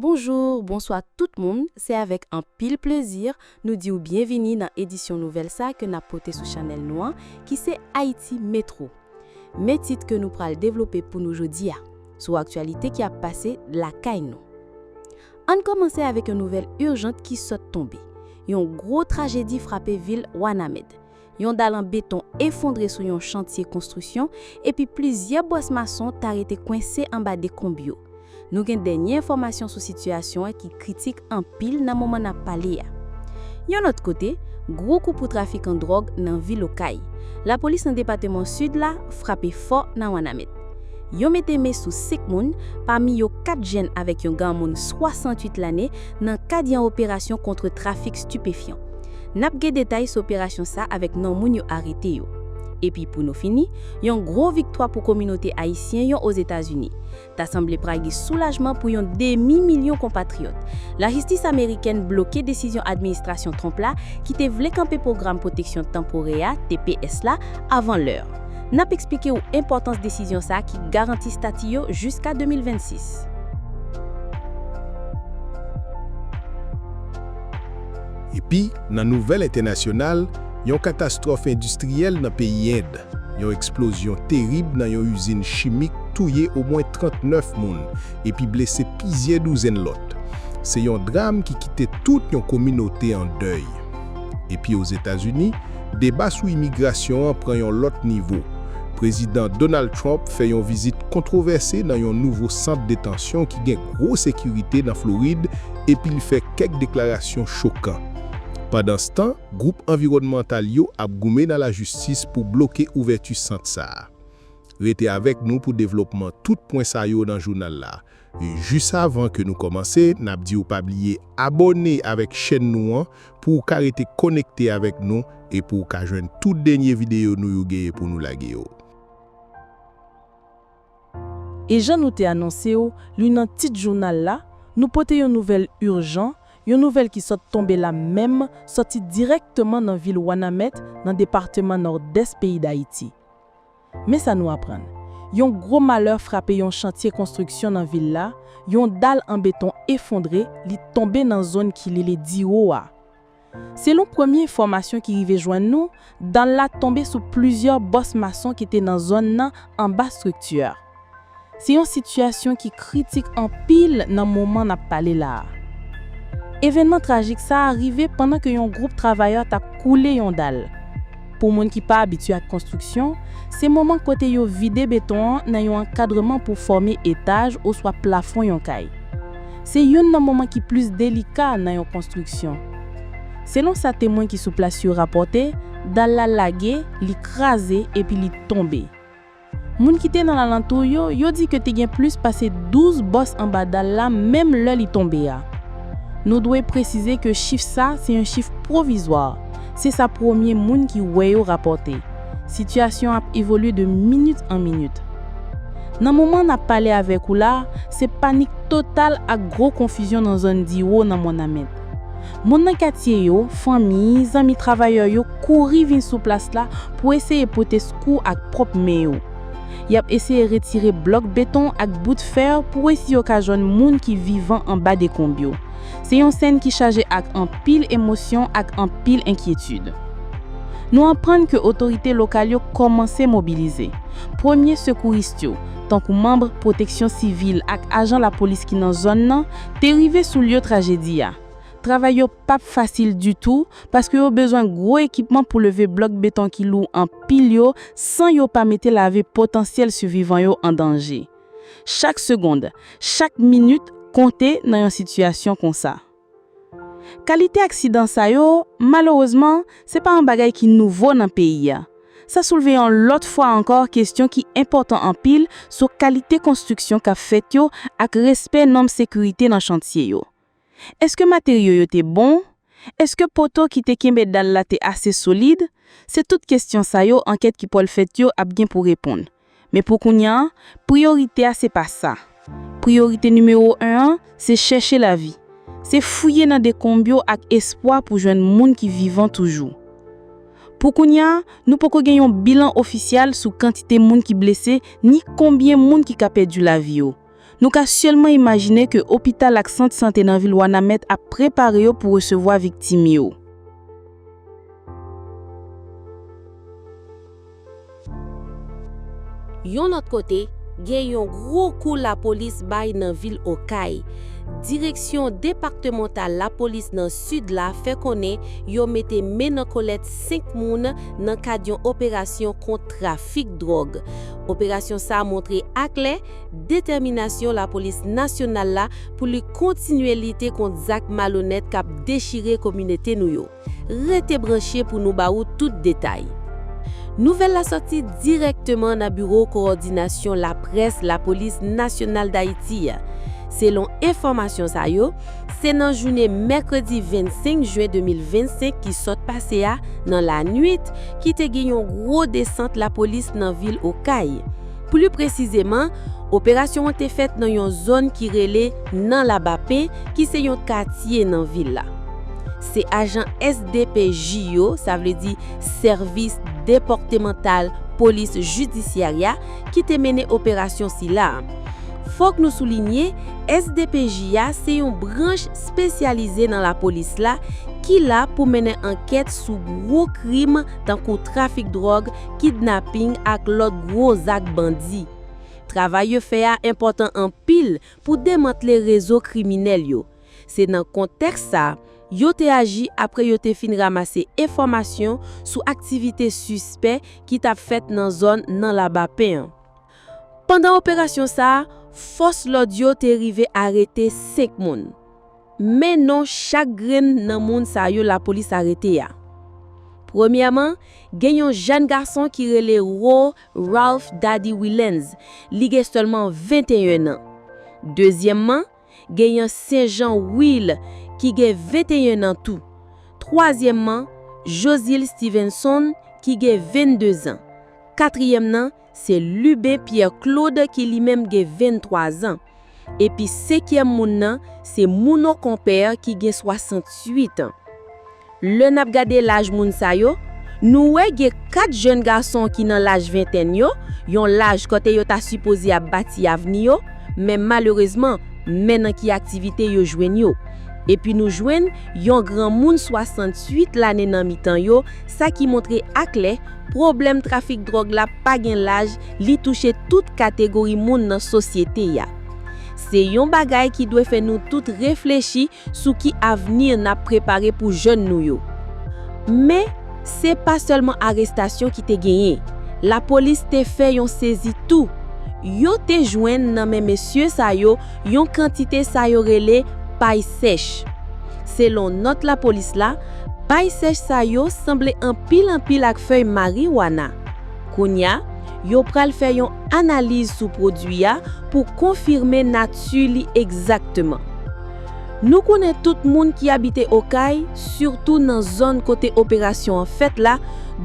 Bonjour, bonswa tout moun, se avèk anpil plezi nou di w byenvini nan edisyon nouvèl sa ke nap pote sou chanèl nou an ki se Ayiti Metro. Men tit ke nou pral devlope pou nou jodi a, sou aktyalite ki ap pase lakay nou. Ann kòmanse avèk yon nouvèl urgent ki sòt tonbe, yon gwo trajedi frape vil Wanament, Yon dal an beton efondre sou yon chantye konstriksyon epi plizyè bwàs mason ta rete kwense anba dekonb yo. Nou gen dènye enfòmasyon sou sitiyasyon an ki kritik anpil nan moman n ap pale a. Yon lòt kote, gwo kou pou trafikan dwòg nan vil Okay. Lapolis nan depateman Sid la frape fò nan Wanament. Yo mete men sou 5 moun, pami yo 4 jenn avèk yon ganmoun 68 lane nan kad yon operasyon kontre trafik stipefyan. N ap gen detay sou operasyon sa avèk non moun yo arete yo. Epi pou nou fini, yon gwo viktwa pou kominote ayisyen yon Ozetazini. Ta sanble pral gen soulajman pou yon demi milyon konpatriyòt. Lajistis amerikèn bloke desizyon administrasyon Trump la ki te vle kanpe pwogram pwoteksyon tanporè a, tps, la avan lè. N ap eksplike ou enpòtans desizyon sa ki garanti stati yo jiska 2026. Epi, nan nouvèl entènasyonal, yon katastwòf endistriyèl nan peyi End, yon eksplozyon terib nan yon izin chimik touye omwen 39 moun epi blese pizyè douzenn lòt. Se yon dram ki kite tout yon kominote an dèy. Epi Ozetazini, deba sou imigrasyon an pran yon lòt nivo. Prezidan Donald Trump fè yon vizit kontwovèse nan yon nouvo sant detansyon ki gen gwo sekirite nan Florid epi l fè kèk deklarasyon chokan. Pandanstan, gwoup anviwònmantal yo ap goumen nan lajistis pou bloke ouvèti sant sa a. Rete avèk nou pou devlopman tout pwen sa yo nan jounal la. Jis avan ke nou kòmanse, n ap di w pa bliye abòne avèk chèn nou an pou w ka rete konekte avèk nou e pou w ka jwenn tout dènye videyo nou yo genyen pou nou lage yo. E jan nou te anonse w li nan tit jounal la, nou pote yon nouvèl urjan, yon nouvèl ki sot tonbe la menm, soti dirèkteman nan vil Wanament nan departeman Nòdès peyi Dayiti. Men sa nou aprann, yon gwo malè frape yon chantye konstriksyon nan vil la, yon dal an beton efondre, li tonbe nan zòn ki lele Diwo a. Selon premye enfòmasyon ki rive jwenn nou, dan la tonbe sou plizyè bòs mason ki te nan zòn nan anba strikti a. Se yon sitiyasyon ki kritik anpil nan moman n ap pale la a. Evènman trajik sa a rive pandan ke yon gwoup travayè t ap koule yon dal. Pou moun ki pa abitye ak konstriksyon, se moman kote yo vide beton an nan yon ankadreman pou fòme etaj oswa plafon yon kay. Se youn nan moman ki plis delika nan yon konstriksyon. Selon sa temwen ki sou plas yo rapòte, dal la lage, li kraze epi li tonbe. Moun ki te nan lalantou yo, yo di ke te gen plis pase 12 bòs anba dal la menm lè li tonbe a. Nou dwe presize ke chif sa se yon chif pwovizwa, se sa premye moun ki wè yo rapòte. Sitiyasyon ap evolye de minit an minit. Nan moman nap pale avèk ou la, se panik total ak gwo konfizyon nan zòn Diwo nan Wònament. Moun nan katye yo, fanmi, zanmi travayè yo kouri vin sou plas la pou eseye pote sekou ak pwòp men yo. Y ap eseye retire blòk beton ak bout fè pou wè si yo ka jwenn moun ki vivan anba dekonb yo. Se yon sèn ki chaje ak anpil emosyon ak anpil enkyetid. Nou aprann ke otorite lokal yo kòmanse mobilize. Premye sekouris yo, tankou manm pwoteksyon sivil ak ajan lapolis ki nan zòn nan, Te rive sou lyo trajedi a. Travay yo p ap fasil ditou paske yo bezwen gwo ekipman pou leve blòk beton ki lou anpil yo san yo pa mete lavi potansyèl sivivan yo an danje. Chak segond, chak minit konte nan yon sitiyasyon konsa. Kalite aksidan sa yo, malerezman, se pa yon bagay ki nouvo nan peyi a, sa soulve yon lòt fwa ankò kesyon ki enpòtan anpil sou kalite konstriksyon k ap fèt yo ak respè nòm sekirite nan chantye yo. Èske materyo yo te bon? Èske poto ki te kenbe dal la te ase solid? Se tout kesyon sa yo ankèt ki pwal fèt yo ap gen pou reponn. Men pou kounya, priyorite a se pa sa. Priyorite nimewo 1 an, se chèche lavi. Se fouye nan dekonb yo ak espwa pou jwenn moun ki vivan toujou. Pou kounya, nou poko gen yon bilan ofisyal sou kantite moun ki blese ni konbyen moun ki ka pèdi lavi yo. Nou ka sèlman imajine ke opital ak sant sante nan vil Wanament ap prepare yo pou resevwa viktim yo. Yon lòt kote, gen yon gwo kou lapolis bay nan vil Okay. Direksyon depaktemantal lapolis nan Sid la fè konnen yo mete men nan kolèt 5 moun nan kad yon operasyon kont trafik dwòg. Operasyon sa montre aklè detèminasyon lapolis nasyonal la pou li kontinye lite kont zak malonèt kap dechire kominote nou yo. Rete branche pou nou ba ou tout detay. Nouvèl la sòti dirèkteman nan biwo kowòdinasyon laprès lapolis nasyonal Dayiti. Selon enfòmasyon sa yo, se nan jounen mèkredi 25 jen 2025 ki sòt pase a nan lanwit ki te gen yon gwo desant lapolis nan vil Okay. Pli presizeman, operasyon an te fèt nan yon zòn ki rele Nan Labape ki se yon katye nan vil la. Se ajan SDPJ yo, sa vle di Sèvis Depòktemantal Polis Jidisyarya, ki te mennen operasyon sila a. Fòk nou soulinye, SDPJ a se yon branch spesyalize nan lapolis la ki la pou mennen ankèt sou gwo krim tankou trafik dwòg, kidnaping ak lòt gwo zak bandi. Travay yo fè a enpòtan anpil pou demantle rezo kriminèl yo. Se nan kontèks sa, yo te aji apre yo te fin ramase enfòmasyon sou aktivite sispè ki t ap fèt nan zòn nan Labapen an. Pandan operasyon sa, fòs lòd yo te rive arete 5 moun. Men non chak grenn nan moun sa yo lapolis arete a. Premyèman, gen yon jèn gason ki rele Ro Ralph Dady Willens, li gen sèlman 21 nan. Dezyèmman, gen yon Senjan Will ki gen 21 nan tou. Twazyèmman, Josile Stevenson ki gen 22 zan. Katriyèm nan, Se Lubin Pierre Claude ki li menm gen 23 zan. Epi senkyèm moun nan se Mouno Compère ki gen 68 an. Lè n ap gade laj moun sa yo, nou wè gen 4 jèn gason ki nan laj ventèn yo, yon laj kote yo ta sipoze ap bati avni yo, men malerezman men nan ki aktivite yo jwenn yo. Epi nou jwenn yon granmoun 68 lane nan mitan yo, sa ki montre aklè Pwoblèm trafik dwòg la pa gen laj, li touche tout kategori moun nan sosyete a. Se yon bagay ki dwe fè nou tout reflechi sou ki avni n ap prepare pou jèn nou yo. Men, se pa sèlman arestasyon ki te genyen. Lapolis te fè yon sezi tou. Yo te jwenn nan men mesye sa yo yon kantite sa yo rele pay sèch. Selon nòt lapolis la, pay sèch sa yo sanble anpil anpil ak fèy mariwana. Kounya, yo pral fè yon analiz sou pwodui a pou konfime nati li egzakteman. Nou konnen tout moun ki abite Okay, sitou nan zòn kote operasyon an fèt la,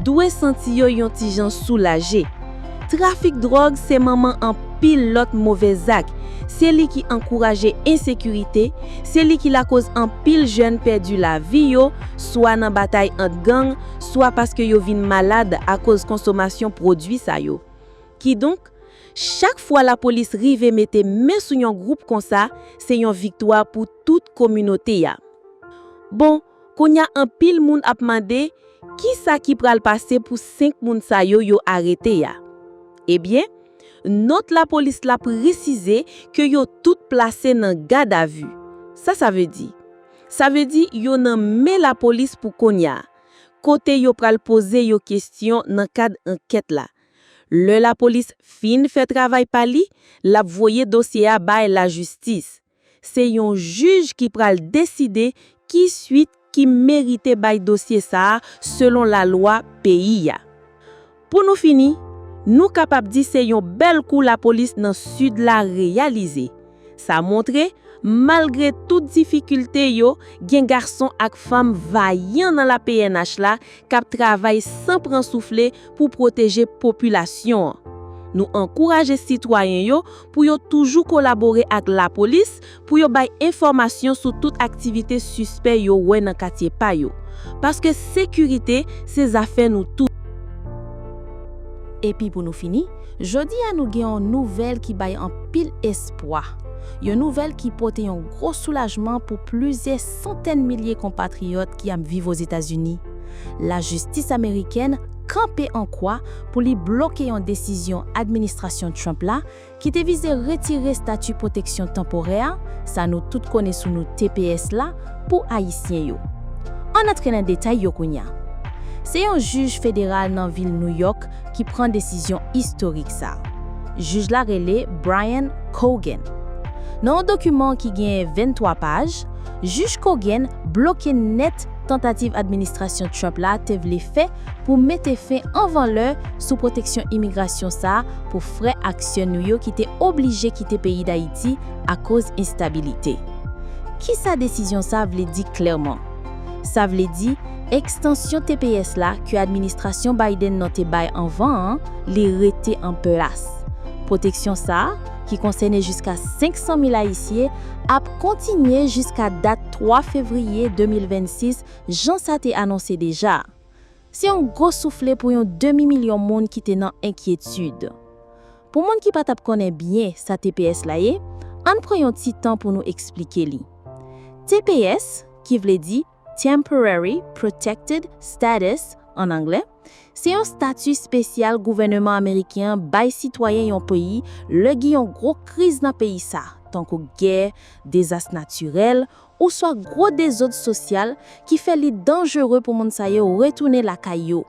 dwe santi yo yon ti jan soulaje. Trafik dwòg se manman anpil lòt move zak, se li ki ankouraje ensekirite, se li ki lakoz anpil jèn pèdi lavi yo swa nan batay ant gang, swa paske yo vin malad akoz konsomasyon pwodui sa yo. Kidonk, chak fwa lapolis rive mete men sou yon gwoup konsa, se yon viktwa pou tout kominote a. Bon, Kounya anpil moun ap mande kisa ki pral pase pou 5 moun sa yo yo arete a. Ebyen, nòt lapolis la presize ke yo tout plase nan gadavi. Sa sa vle di? Sa vle di yo nan men lapolis pou kounya, kote yo pral poze yo kestyon nan kad ankèt la. Lè lapolis fin fè travay pa li, lap voye dosye a bay lajistis. Se yon jij ki pral deside ki suit ki merite bay dosye sa a selon lalwa peyi a. Pou nou fini, nou kapab di se yon bèl kou lapolis nan Sid la reyalize. Sa montre, malgre tout difikilte yo, gen gason ak fanm vayan nan la pnh la k ap travay san pran soufle pou pwoteje popilasyon an. Nou ankouraje sitwayen yo pou yo toujou kolabore ak lapolis pou yo bay enfòmasyon sou tout aktivite sispè yo wè nan katye pa yo. Paske sekirite se zafè nou tout. Epi pou nou fini, jodi a nou gen yon nouvèl ki bay anpil espwa, yon nouvèl ki pote yon gwo soulajman pou plizyè santèn milye konpatriyòt ki ap viv Ozetazini, lajistis amerikèn kanpe an kwa pou li bloke yon desizyon administrasyon Trump la ki te vize retire stati pwoteksyon tanporè, sa nou tout konnen sou nou tps la, pou Ayisyen yo. Ann antre nan detay yo kounya. Se yon jij federal nan vil Nouyòk ki pran desizyon istorik sa a. Jij la rele Brian Cogan. Nan yon dokiman ki gen 23 paj, Jij Cogan bloke nèt tantativ administrasyon Trump la te vle fè pou mete fen anvan lè sou pwoteksyon imigrasyon sa a pou frè ak sè nou yo ki te oblije kite peyi Dayiti akoz enstabilite. Kisa desizyon sa a vle di klèman? Sa vle di, ekstansyon tps la ke administrasyon Biden nan te bay anvan an, li rete an plas. Pwoteksyon sa, ki konsène jiska 500 mil Ayisye, ap kontinye jiska dat 3 fevriye 2026 jan sa te anonse deja. Se yon gwo soufle pou yon demi milyon moun ki te nan enkyetid. Pou moun ki pa t ap konnen byen sa tps la ye, ann pran yon ti tan pou nou esplike li. Tps, ki vle di Temporary Protected Status an anglè, se yon stati spesyal gouvèneman ameriken an bay sitwayen yon peyi lè gen yon gwo kriz nan peyi sa, tankou gè, dezas natirèl, ouswa gwo dezod sosyal ki fè li danjere pou moun sa yo retounen lakay yo.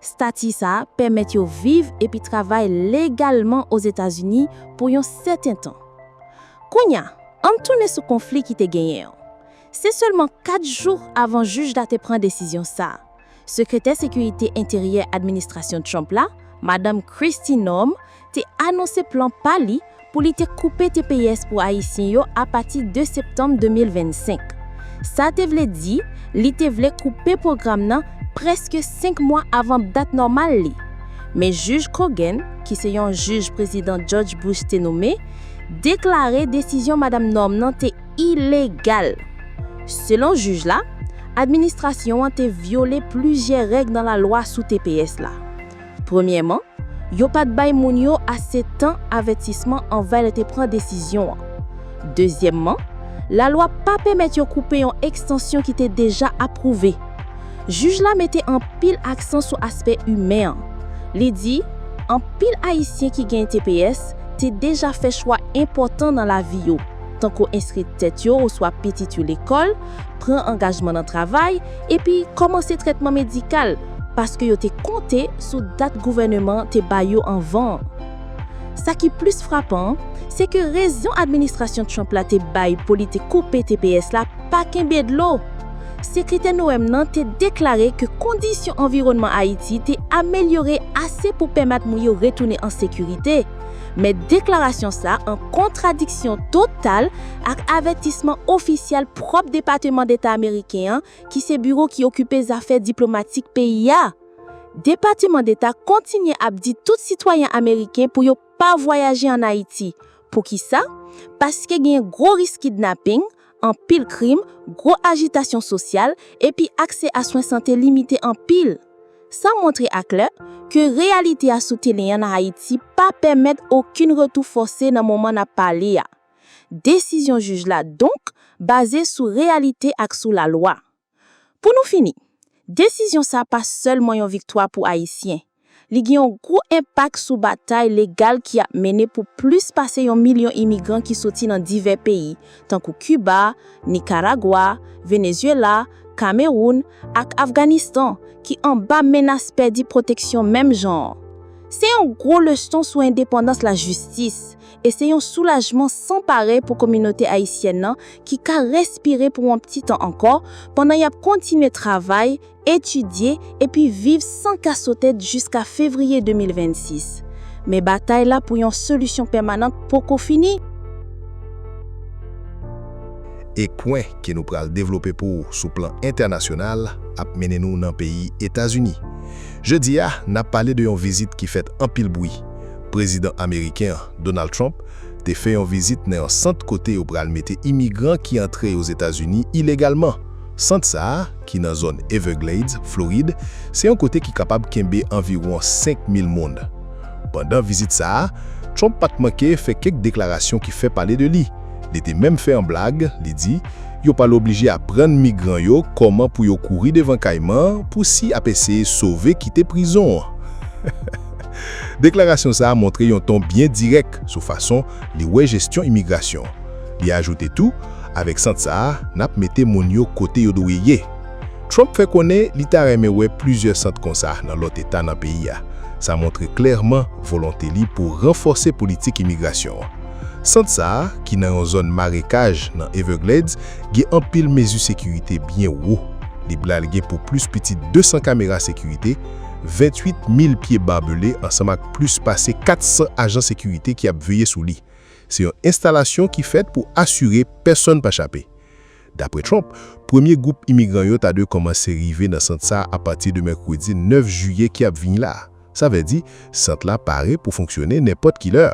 Stati sa a pèmèt yo viv epi travay legalman Ozetazini pou yon sèten tan. Kounye a, ann tounen sou konfli ki te genyen an. Se sèlman kat jou avan jij la te pran desizyon sa a, Sekretè Sekirite Enteryè administrasyon Trump la, Madanm Kristi Noem, te anonse plan pa li pou li te koupe tps pou Ayisyen yo apati 2 septanm 2025. Sa te vle di li te vle koupe pwogram nan prèske 5 mwa avan dat nòmal li. Men jij Cogan, ki se yon jij Prezidan George Bush te nome, deklare desizyon Madam Norm nan te ilegal. Selon jij la, administrasyon an te vyole plizyè règ nan lalwa sou tps la. Premyèman, yo pa t bay moun yo ase tan avètisman anvan yo te pran desizyon an. Dezyèmman, lalwa pa pèmèt yo koupe yon ekstansyon ki te deja apwouve. Jij la mete anpil aksan sou aspè imen an. Li di, Anpil Ayisyen ki gen tps te deja fè chwa enpòtan nan lavi yo, tankou enskri tèt yo oswa pitit yo lekòl, pran angajman nan travay epi kòmanse trètman medikal paske yo te konte sou dat gouvèneman te bay yo anvan an. Sa ki plis frapan, se ke rezon administrasyon Trump la te bay pou li te koupe tps la pa kenbe dlo. Sekretè Noem nan te deklare ke kondisyon anviwònman Ayiti te amelyore ase pou pèmèt moun yo retounen an sekirite, Men deklarasyon sa an kontradiksyon total ak avètisman ofisyèl pwòp Depateman Deta ameriken an ki se biwo ki okipe zafè diplomatik peyi a. Depateman Deta kontinye ap di tout sitwayen ameriken pou yo pa vwayaje an Ayiti. Poukisa? Paske gen gwo risk kidnaping, anpil krim, gwo ajitasyon sosyal, epi aksè a swen sante limite anpil. Sa montre aklè, ke reyalite a sou telen an Ayiti pa pèmèt okenn retou fòse nan moman n ap pale a. Desizyon jij la donk, baze sou reyalite ak sou lalwa. Pou nou fini, desizyon sa pa sèlman yon viktwa pou Ayisyen, li gen yon gwo enpak sou batay legal ki ap mennen pou plis pase yon milyon imigran ki soti nan divè peyi, tankou Kiba, Nikaragwa, Venezyela, Kamewoun, ak Afganistan, ki anba menas pèdi pwoteksyon menm jan an. Se yon gwo leson sou endepandans lajistis, e se yon soulajman san parèy pou kominote ayisyèn nan ki ka respire pou yon pti tan ankò pandan y ap kontinye travay, etidye epi viv san kasotèt jiska fevriye 2026. Men batay la pou yon solisyon pèmanant poko fini. E kwen ke nou pral devlope pou ou sou plan entènasyonal ap mennen nou nan peyi Etazini. Jodi a, n ap pale de yon vizit ki fèt anpil bwi, Prezidan ameriken an, Donald Trump, te fè yon vizit nan yon sant kote yo pral mete imigran ki antre Ozetazini ilegalman. Sant sa a, ki nan zòn Everglades, Florid, se yon kote ki kapab kenbe anviwon 5 mil moun. Pandan vizit sa a, Trump pa t manke fè kèk deklarasyon ki fè pale de li. Li te menm fè yon blag, li di, Yo pral oblije aprann migran yo kòman pou yo kouri devan kayman pou si ap eseye sove kite prizon an. Deklarasyon sa a montre yon ton byen dirèk sou fason li wè jesyon imigrasyon. Li ajoute tou, Avèk sant sa a, n ap mete moun yo kote yo dwe ye. Trump fè konnen li ta renmen wè plizyè sant konsa nan lòt eta nan peyi a. Sa montre klèman volonte li pou ranfòse politik imigrasyon an. Sant sa a, ki nan yon zòn marekaj nan Everglades, gen anpil mezi sekirite byen wo. Li pral gen pou plis piti 200 kamera sekirite, 28 mil pye barbelé ansanm ak plis pase 400 ajan sekirite ki ap veye sou li. Se yon enstalasyon ki fèt pou asire pèsonn pa chape. Dapre Trump, premye gwoup imigran yo ta dwe kòmanse rive nan sant sa a pati de mèkredi 9 jiyè ki ap vini la a. Sa vle di, sant la pare pou fonksyone nenpòt ki lè.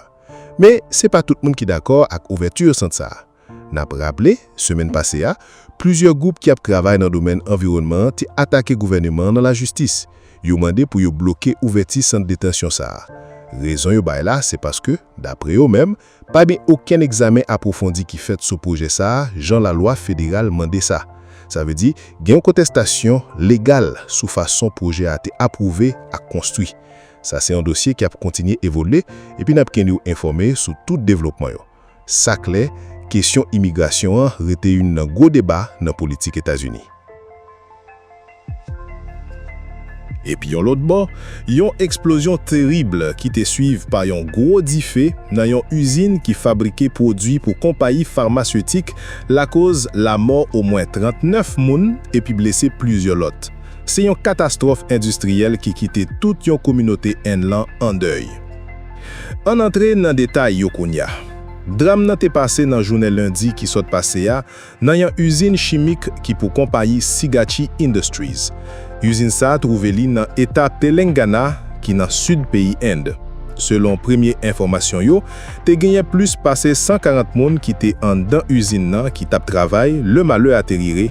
Men, se pa tout moun ki dakò ak ouvèti sant sa a. N ap raple, semèn pase a, plizyè gwoup ki ap travay nan domèn anviwònman an te atake gouvèneman an nan lajistis. Yo mande pou yo bloke ouvèti sant detansyon sa a. Rezon yo bay la se paske, dapre yo menm, pa gen okenn egzamen apwofondi ki fèt sou pwojè sa a jan lalwa federal mande sa. Sa vle di, gen yon kontestasyon legal sou fason pwojè a te apwouve ak konstwi. Sa se yon dosye ki ap kontinye evolye epi n ap kenn ou enfòme sou tout devlopman yo. Sa klè, kesyon imigrasyon an rete youn nan gwo deba nan politik Etazini. Epi yon lòt bò, yon eksplozyon terib ki te swiv pa yon gwo dife nan yon izin ki fabrike pwodui pou konpayi famasyotik lakoz lamò omwen 39 moun epi blese plizyè lòt. Se yon katastwòf endistriyèl ki kite tout yon kominote Enn lan an dèy. Ann antre nan detay yo kounya. Dram nan te pase nan jounen lendi ki sot pase a nan yan uzin chimik ki pou konpayi Sigachi Industries. Uzin sa trouve li nan eta Telengana ki nan sid peyi End. Selon premye enfomasyon yo, te genyen plis pase 140 moun ki te anndan uzin nan ki tap travay le malè a te rire.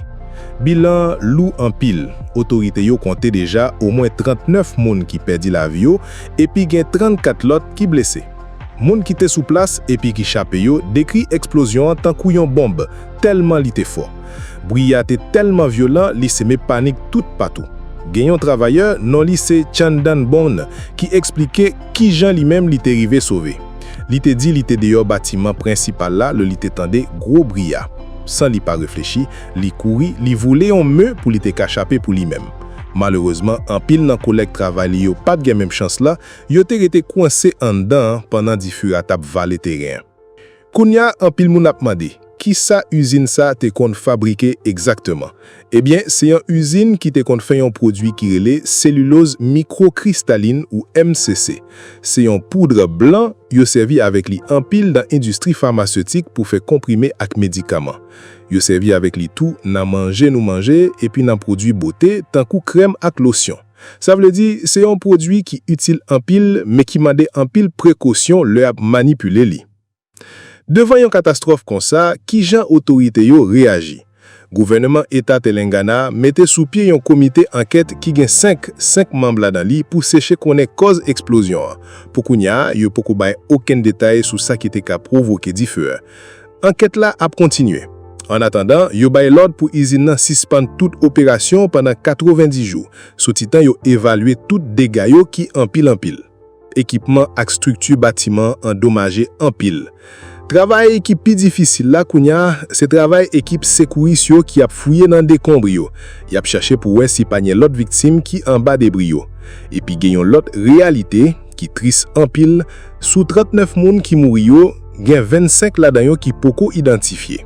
Bilan an lou anpil, otorite yo konte deja omwen 39 moun ki pèdi lavi yo epi gen 34 lòt ki blese. Moun ki te sou plas epi ki chape yo dekri eksplozyon an tankou yon bonb, tèlman li te fò. Bri a te tèlman vyolan li seme panik toutpatou. Gen yon travayè, non li se Chandan Bourne, ki eksplike kijan li menm li te rive sove. Li te di li te deyò batiman prensipal la lè li te tande gwo bri a. San li pa reflechi, Li kouri, li voule yon me pou li te ka chape pou li menm. Malerezman, anpil nan kolèg travay li yo pa t gen menm chans la, yo te rete kwense anndan an pandan dife a t ap vale teren an. Kounye a, anpil moun ap mande, ki sa izin sa a te konn fabrike egzakteman? Ebyen, se yon izin ki te konn fè yon pwodui ki rele seliloz mikwokristalin ou MCC. Se yon poudre blan, yo sèvi avèk li anpil nan endistri famasetik pou fè konprime ak medikaman. Yo sèvi avèk li tou nan manje nou manje epi nan pwodui bote tankou krèm ak losyon. Sa vle di, se yon pwodui ki itil anpil men ki mande anpil prekosyon lè y ap manipile li. Devan yon katastwòf konsa, ki jan otorite yo reyaji? Gouvèneman Eta Telengana mete sou pye yon komite ankèt ki gen 5 senk manm ladan li pou seche konnen kòz eksplozyon an. Pou kounya, yo poko bay okenn detay sou sa ki te ka pwovoke dife a. Ankèt la ap kontinye. An atandan, yo bay lòd pou izin nan sispann tout operasyon pandan 90 jou, sou ti tan yo evalye tout dega yo ki anpil anpil. Ekipman ak strikti batiman an domaje anpil. Travay ki pi difisil la kounya, se travay ekip sekouris yo ki ap fouye nan dekonbr yo. Y ap chache pou wè si pa gen lòt viktim ki anba debri yo. Epi gen yon lòt reyalite, ki tris anpil, sou 39 moun ki mouri yo, Gen 25 ladan yo ki poko idantifye.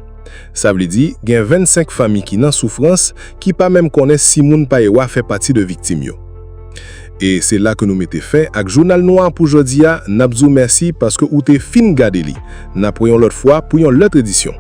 Sa vle di, gen 25 fanmi ki nan soufrans, ki pa menm konnen si moun pa ewa fè pati de viktim yo. E se la ke nou mete fen ak Jounal nou a pou jodi a, n ap di w mèsi paske ou te fin gade li. N ap wè yon lòt fwa pou yon lòt edisyon.